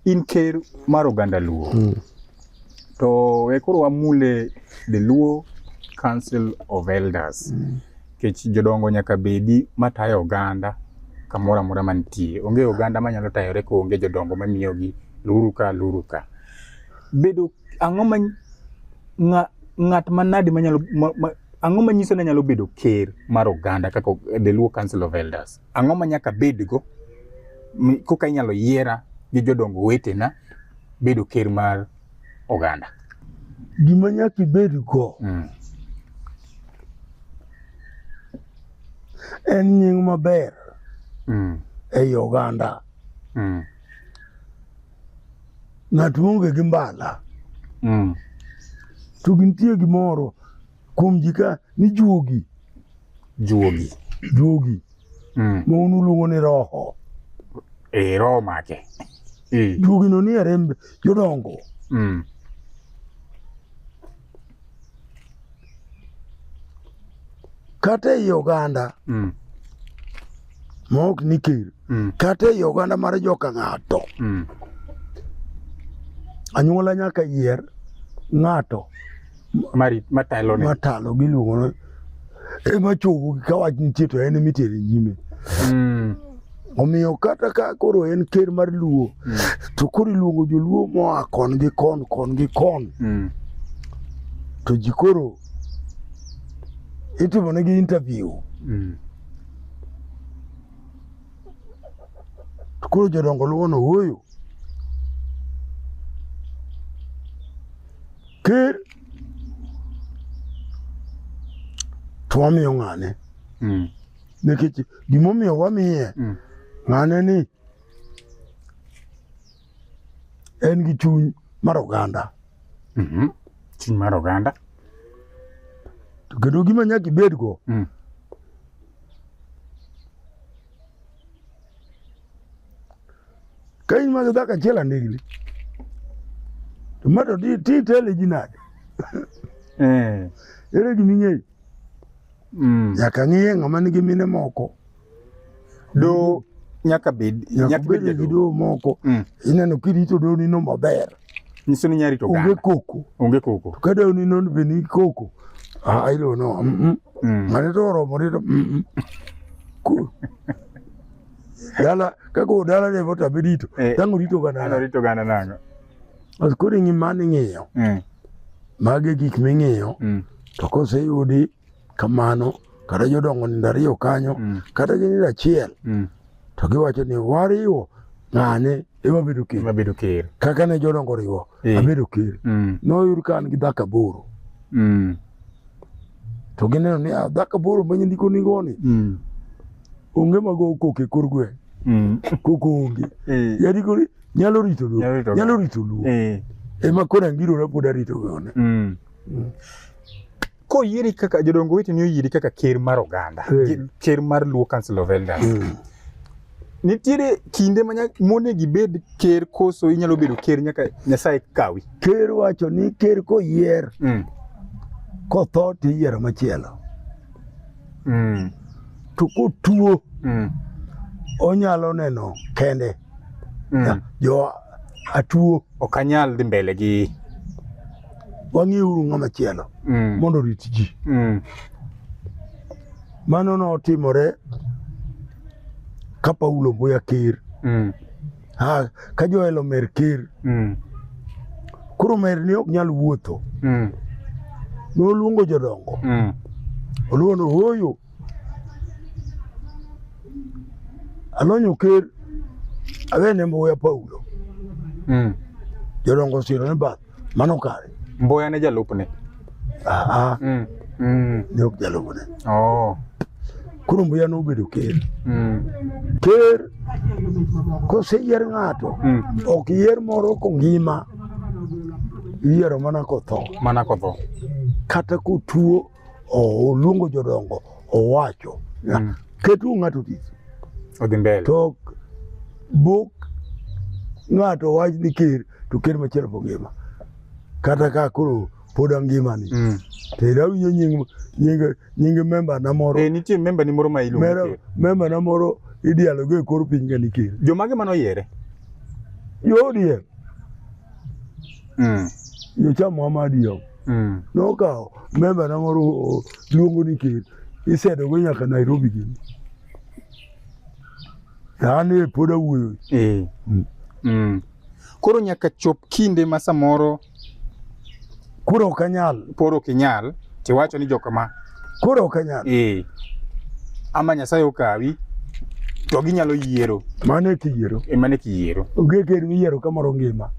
In ker mar oganda Luo. Mm. To we koro wamule the Luo Council of Elders. Mm. Kech jodongo nyaka bedi matayo oganda kamoro amora mantie. Onge oganda manyalo tayore ko onge jodongo mamiyogi luru ka luru ka. Bedo ang'o ma ng'at manadi manyalo ma, ma, ang'o manyiso ni nyalo bedo ker mar oganda kaka the Luo Council of Elders? Ang'o ma nyaka bedgo koka inyalo yiera gi jodongo wetena bedo ker mar oganda? Gima nyaka ibedgo mm. en nying maber mm. ei oganda. Mm. Ng'at maonge gi mbala mm. to gintie gimoro kuom ji ka ni juogi juogi juogi mm. ma un uluongo ni roho e roho make e. juogi no ni aremb jodongo mm. kata ei oganda mm. ma ok ni ker mm. kata ei oganda mar joka ng'ato mm. anyuola nyaka yier ng'ato mari matalo ne matalo giluongo no ema chogo ka wach nitie to en emitere nyime mm. omiyo kata ka koro en ker mar luo mm. to koro iluongo joluo moa kon gi kon kon gi kon mm. to ji koro itimo negi interview mm. to koro jodongo luwono wuoyo Ker to wamiyo ng'ane mm. nikech gimomiyo wamiye mm. ng'ane ni en gi chuny mar oganda mm -hmm. chuny mar oganda to kendo gima nyaka ibedgo mm. Kain ma dhaka achiel andikli. To ma to ti tele ji nade? Eh. Ere gima ing'eyo? Mm. Nyaka ng'iye ng'ama nigi mine moko. Do nyaka bed nyaka bed gi do moko. Mm. Ineno kirito do nino maber. nyiso ni nyari to onge koko onge koko to kada ni non be ni koko ah ilo no mm -mm. Mm. mane to oromo ni to mm -mm. dala kako dala ne vota bedito eh, tangu rito gana ano rito gana nango as kuri ngi mani ngiyo mm. mage gik mingiyo mm. to kose yudi kamano kata jodongo nindo ariyo kanyo mm. kata gi nindo achiel mm. to giwacho ni wariwo ng'ane ema bedo ker ema bedo ker kaka ne jodongo riwo e. abedo ker mm. noyud ka an gi dhaka boro mm. to gineno ni ah, dhaka boro ma nyindiko ni goni mm. onge mago koke kor gwe mm. koko onge e. yadiko ni nyalo rito luo nyalo rito luo e. ema kona ngirona pod arito gone mm. mm. koyieri kaka jodongo wetu ni oyieri kaka ker mar oganda mm. ker mar Luo Council of Elders mm. nitiere kinde ma mone gibed ker koso inyalo bedo ker nyaka Nyasaye kawi ker wacho ni ker koyier mm. kotho to iyiero machielo mm. to kotuo mm. onyalo neno kende Mm. Ya, Jo atuo Ok anyal dhi mbele gi wang'iuru ng'ama chielo mm. mondo orit ji. Mm. Mano notimore ka Paulo Mbuya Ker, Mm. ha, ka Joel Omer Ker. Mm. Koro Omer ne ok nyal wuotho, Mm. noluongo jodongo, Mm. oluongo hoyo anonyo ker awene mbuya paulo mm. jodongo siro ne bath mano kare mbuya ne jalupne ah, ah. mm. mm. ne ok jalupne oh. koro mbuya nobedo ker mm. ker koseyier ng'ato mm. ok yier moro kongima iyiero mana kotho mana kotho kata kotuo oluongo jodongo owacho mm. ketu ng'ato tich odhi mbele to buk ng'ato wach ni ker to ker machielo po ngima kata ka koro pod angima ni mm. to ira winyo nying nying nying memba na moro eh nitie memba ni moro ma iluongo memba na moro idialo go e kor piny ga ni ker jomage mano yere yo die mm. yo cha Muhammad yo Mm. Nokawo member na moro o- luongo ni ker isedogo nyaka Nairobi gini. An e pod awuoyo. Eh. Mm. Mm. Koro nyaka chop kinde ma samoro Koro ok anyal. poro ok inyal tiwacho ni jokama Koro ok anyal. eh. ama Nyasaye okawi to ginyalo yiero Mano e kiyiero. emane kiyiero Onge ker miyiero kamoro ngima.